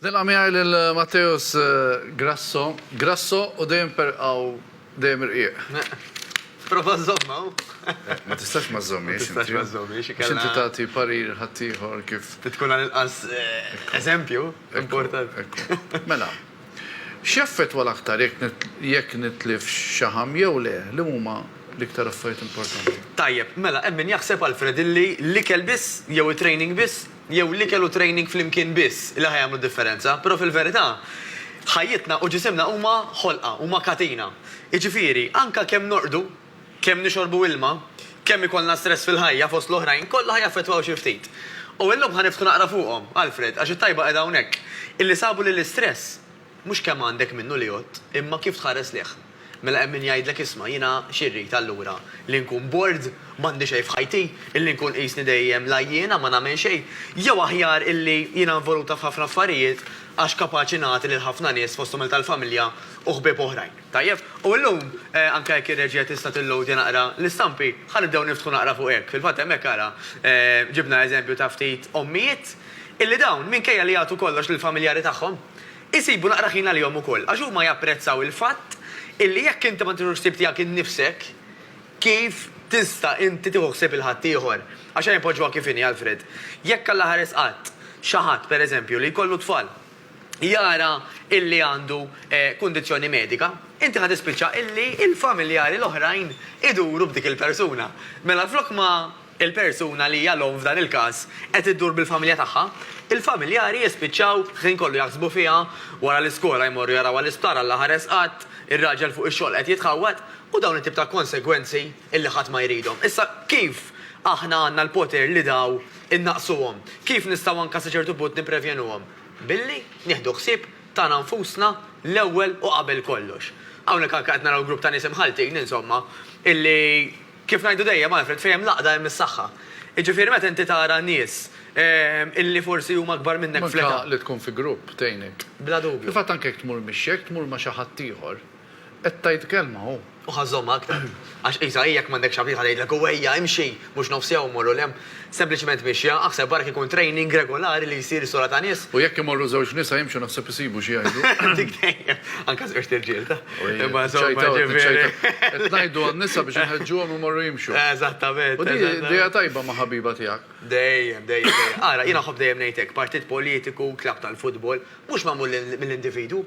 Nilqa' miegħi lil Matteus Grasso. Grasso u dejjem perqaw dejjem irqiq. Prova żżommha u. Ma tistax ma żżommhiex inti. Ma tistax ma żżommhiex, ikella. Għax inti tagħti parir ħaddieħor kif. Trid tkun għall-inqas eżempju importanti. Ekku, ekku. Mela, x'jaffettwa l-aktar jekk nitlifx xaħam jew le? Li huma l-iktar affarijiet importanti? Tajjeb, mela hemm min jaħseb, Alfred, illi l-ikel biss jew it-training biss jew l-ikel u training flimkien biss li ħa jagħmlu d-differenza, però fil-verità, ħajjitna u ġisimna huma ħolqa, huma katina. Jiġifieri, anke kemm norqdu, kemm nixorbu ilma, kemm ikollna stress fil-ħajja, fost l-oħrajn, kollha ħa jaffettwaw xi ftit. U illum ħa niftħu naqra fuqhom, Alfred, għax it-tajba qiegħda hawnhekk, illi sabu li l-istress, Mhux kemm għandek minnu li għodt, imma kif tħares lejh. Mela hemm min jgħidlek isma' jiena xi rrid allura? Li nkun bored? M'għandi xejn f'ħajti? Illi nkun qisni dejjem l-għajjiena ma nagħmel xejn? Jew aħjar illi jiena involuta f'ħafna affarijiet għax kapaċi nagħti lil ħafna nies fosthom lil tal-familja u ħbieb oħrajn. Tajjeb, u llum, anke jekk ir-reġija tista' tilloadja naqra l-istampi, ħa nibdew niftħu naqra fuq hekk. Fil-fatt hemmhekk ara ġibna eżempju ta' ftit ommijiet illi dawn, minkejja li jagħtu kollox lill-familjari tagħhom, Isibu naqra ħin għalihom ukoll, għax huma japprezzaw il-fatt illi jekk inti ma tiħux ħsieb tiegħek innifsek, kif tista' inti tieħu ħsieb il-ħaddieħor? Għax ejja npoġġuha kif inhi, Alfred. Jekk Alla ħares qatt xi ħadd, per eżempju, li jkollu tfal, jara illi għandu kundizzjoni medika, inti ħa tispiċċa illi l-familjari l-oħrajn iduru b'dik il-persuna. Mela flok ma. il-persuna li hija l-omm f'dan il-każ qed iddur bil-familja tagħha, il-familjari jispiċċaw ħin kollu jaħsbu fiha, wara l-iskola jmorru jarawha l-isptar Alla ħares qatt, ir-raġel fuq ix-xogħol qed jitħawwad u dawn it-tip ta' konsegwenzi illi ħadd ma jridhom. Issa kif aħna għandna l-poter li daw innaqqsuhom? Kif nistgħu anke sa ċertu punt nipprevjenuhom? Billi nieħdu ħsieb tagħna nfusna l-ewwel u qabel kollox. Hawnhekk anke qed naraw grupp ta' nies imħalltin insomma illi, Kif ngħidu dejjem, Alfred, fejn hemm l-għaqda hemm is-saħħa. Jiġifieri meta inti tara nies illi forsi huma akbar minnek fl-età. U anke li tkun fi grupp tgħinek. Bla dubju. Fil-fatt anke jekk tmur mixi, jekk tmur ma' xi ħadd ieħor, qed tgħid kelma hu. Hu ħa żżommha aktar. Għax qisha hi jekk m'għandekx ħabib ħa tgħidlek hu ejja imxi, mhux nofs jawm morru 'l hemm. Sempliċement mixja, aħseb ara kieku training regolari li jsir sola ta' nies. U jekk imorru żewġ nisa jimxu naħseb isibu xi jgħidu. Dik dejjem. Anke żewġt irġiel ta'. Imma insomma jiġifieri. Qed ngħidu għan-nisa biex inħeġġuhom imorru jimxu. Eżattament. U din idea tajba ma' ħabiba tiegħek. Dejjem, dejjem, dejjem. Ara, jiena nħobb dejjem ngħid hekk, partit politiku, klabb tal-futbol, mhux magħmul mill-individwu.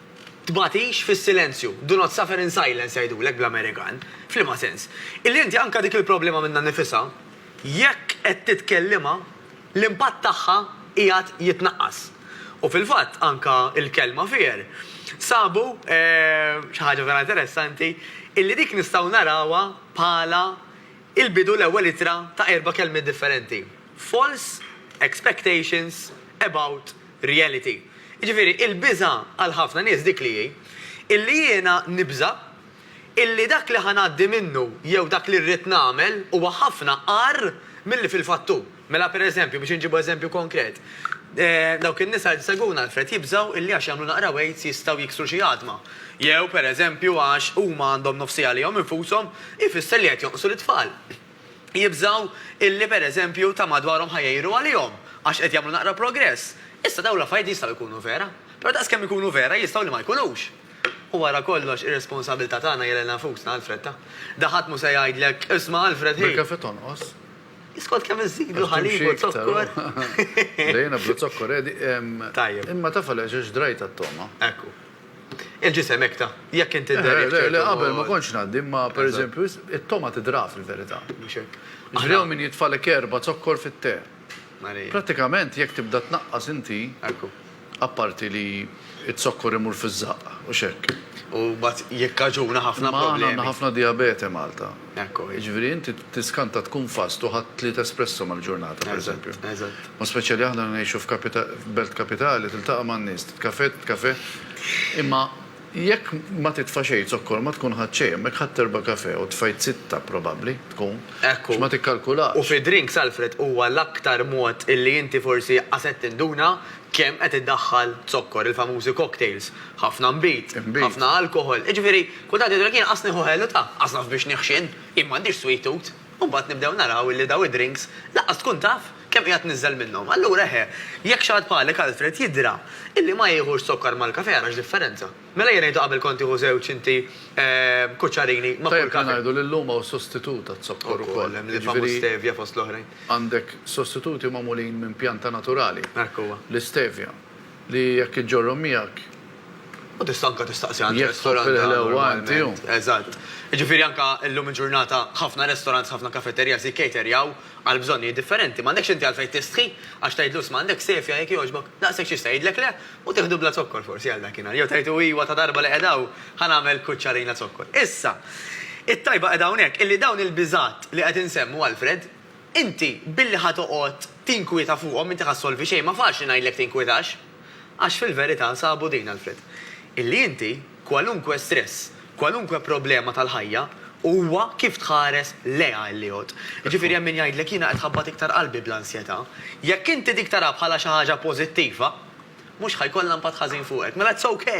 Tbagħtix fis-silenzju, do not suffer in silence jgħidulek bl-Amerikan. F'liema sens? Illi inti anke dik il-problema minnha nnifisha, jekk qed titkellimha, l-impatt tagħha qiegħed jitnaqqas. U fil-fatt anke l-kelma fear, sabu xi ħaġa vera interessanti, illi dik nistgħu narawha bħala l-bidu l-ewwel ittra ta' erba' kelmiet differenti, false expectations about, reality. Jiġifieri, il-biża' għal ħafna nies dik li hi, illi jiena nibża' illi dak li ħa ngħaddi minnu jew dak li rrid nagħmel huwa ħafna agħar milli fil-fatt hu. Mela pereżempju, biex inġibu eżempju konkret, dawk in-nisa li jsegwuna Alfred jibżgħu illi għax jagħmlu naqra weights jistgħu jiksru xi għadma. Jew pereżempju għax huma għandhom nofsija għalihom infushom ifisser li qed jonqsu lit-tfal. jibżgħu illi pereżempju ta' madwarhom ħa jgħiru għalihom għax qed jagħmlu naqra progress. Issa dawn l-affarijiet jistgħu jkunu vera, però daqskemm ikunu vera jistgħu li ma jkunux. U wara kollox ir-responsabilità tagħna hija lilna nfusna, Alfred ta. Da ħadd mhu se jgħidlek, isma' Alfred hi. Bil-kafè tonqos. Skont kemm iżidlu ħalib u zokkor. Bdejna bla zokkor, Edi. Tajjeb. Imma taf għaliex għax drajt għat-togħma. Ekku. Il-ġisem hekk ta, jekk int idher jekk ċertu. Le, le, qabel ma kontx ngħaddi, imma per eżempju, it-togħma tidra fil-verità. Mhux hekk. Jiġifieri hawn min jitfagħlek erba' zokkor fit-te. Prattikament jekk tibda tnaqqas inti, apparti li z-zokkor imur fiż-żaqq, hux hekk? U mbagħad jikkaġuna ħafna problemi. Imma aħna għandna ħafna dijabete Malta. Ekko, jiġifieri inti tiskanta tkun fast u ħadt tliet espresso mal-ġurnata, pereżempju. Eżatt, eżatt. U speċjali aħna li ngħixu f'kapita, f'belt kapitali, tiltaqa' man-nies, titkafè, titkafè, imma jekk ma titfa' xejn zokkor ma tkun ħadt xejn, imma jekk ħadt erba' kafè u tfajt sitta probabbli tkun, għax ma tikkalkulax. U fid-drinks, Alfred, huwa l-aktar mod illi inti forsi qas qed tinduna kemm qed iddaħħal zokkor, il-famużi cocktails, ħafna nbid, ħafna alkoħol, jiġifieri, Kultant jgħidulek jien qas nieħu ħelu ta' għasaf biex niħxin, jien m'għandix sweet tooth. U mbagħad nibdew naraw illi dawn id-drinks lanqas tkun taf kemm qiegħed tniżżel minnhom. Allura eħe, jekk xi ħadd bħalek Alfred jidhra illi ma jiħux zokkar mal-kafè ara x'differenza. Mela ejja ngħidu qabel kont tieħu żewġ inti kuċċarini ma' kull kafè. Tajjeb li ngħidu li llum hawn sostitut għaz-zokkor ukoll. Ukoll, hemm li jifhmu stevia fost l-oħrajn. Għandek sostituti magħmulin minn pjanta naturali. Hekk huwa. L-istevia, li jekk iġġorrhom miegħek U tista' anke tistaqsi għand restorant ta' normalment. Eżatt. Jiġifieri anke llum il-ġurnata ħafna restaurants, ħafna kafeterias jikkaterjaw għal bżonnijiet differenti. M'għandekx inti għalfejn tistħi għax tgħidlu isma' għandek safia jekk jogħġbok, daqshekk x'jista' jgħidlek le u tieħdu bla zokkor forsi għal dakinhar. Jew tgħidlu iwa ta' darba li qiegħed hawn ħa nagħmel kuċċarina zokkor. Issa, it-tajba qiegħda hawnhekk illi dawn il-biżgħat li qed insemmu Alfred, inti billi ħa toqgħod tinkwieta fuqhom, inti ħa ssolvi xejn, ma faċli ngħidlek tinkwitax. Għax fil-verità sabu din, Alfred, illi inti, kwalunkwe stress, kwalunkwe problema tal-ħajja, huwa kif tħares lejha illi jgħodd. Jiġifieri hemm min jgħidlek jiena qed ħabbat iktar qalbi bl-ansjetà. Jekk inti dik tarha bħala xi ħaġa pożittiva, mhux ħa jkollha impatt ħażin fuqek. Mela it's ok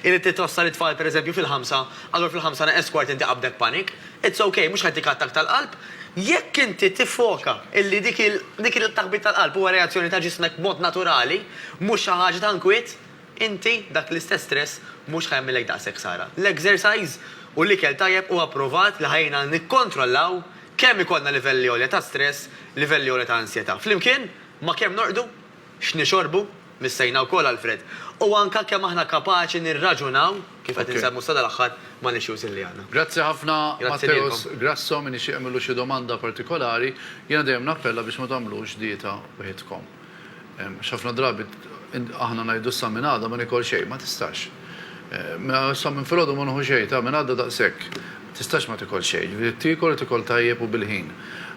illi trid twassal it-tfal pereżempju fil-ħamsa, allura fil-ħamsa neqes kwart inti qabdek panic. It's ok, mhux ħa jtik attakk tal-qalb. Jekk inti tiffoka illi dik il-taħbit tal-qalb huwa reazzjoni ta' ġismek b'mod naturali, mhux xi ħaġa ta' nkwiet, inti dak l-istess stress mhux ħa jagħmillek daqshekk ħsara. L-exercise u l-ikel tajjeb huwa pprovat li ħa jgħinna nikkontrollaw kemm ikollna livelli għolja ta' stress, livelli għolja ta' ansjetà, flimkien ma' kemm norqdu x'nixorbu, missejna wkoll għall-fred, u anke kemm aħna kapaċi nirraġunaw, kif qed insemmu sadal-aħħar, mal-issues illi għandna. Grazzi ħafna Matteus Grasso, min jixtieq jagħmillu xi domanda partikolari, jiena dejjem nappella biex ma tagħmlux dieta wħidkom. Għax ħafna drabi aħna ngħidu issa minn għada ma niekol xejn, ma tistax. Mela sa minn filgħodu ma nieħu xejn, ta' minn għada daqshekk. Ma tistax ma tikolx xejn. Jiġifieri tiekol u tiekol tajjeb u bil-ħin.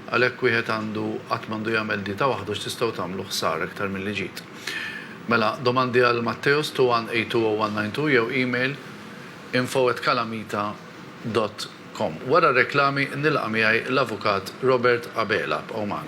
Għalhekk wieħed għandu qatt m'għandu jagħmel dieta waħdu x'tistgħu tagħmlu ħsara iktar milli ġid. Mela, domandi għal Matteos 21820192 jew email info@calamita dot com. Wara r-reklami nilqa' miegħi l-Avukat Robert Abela. Bqgħu magħna.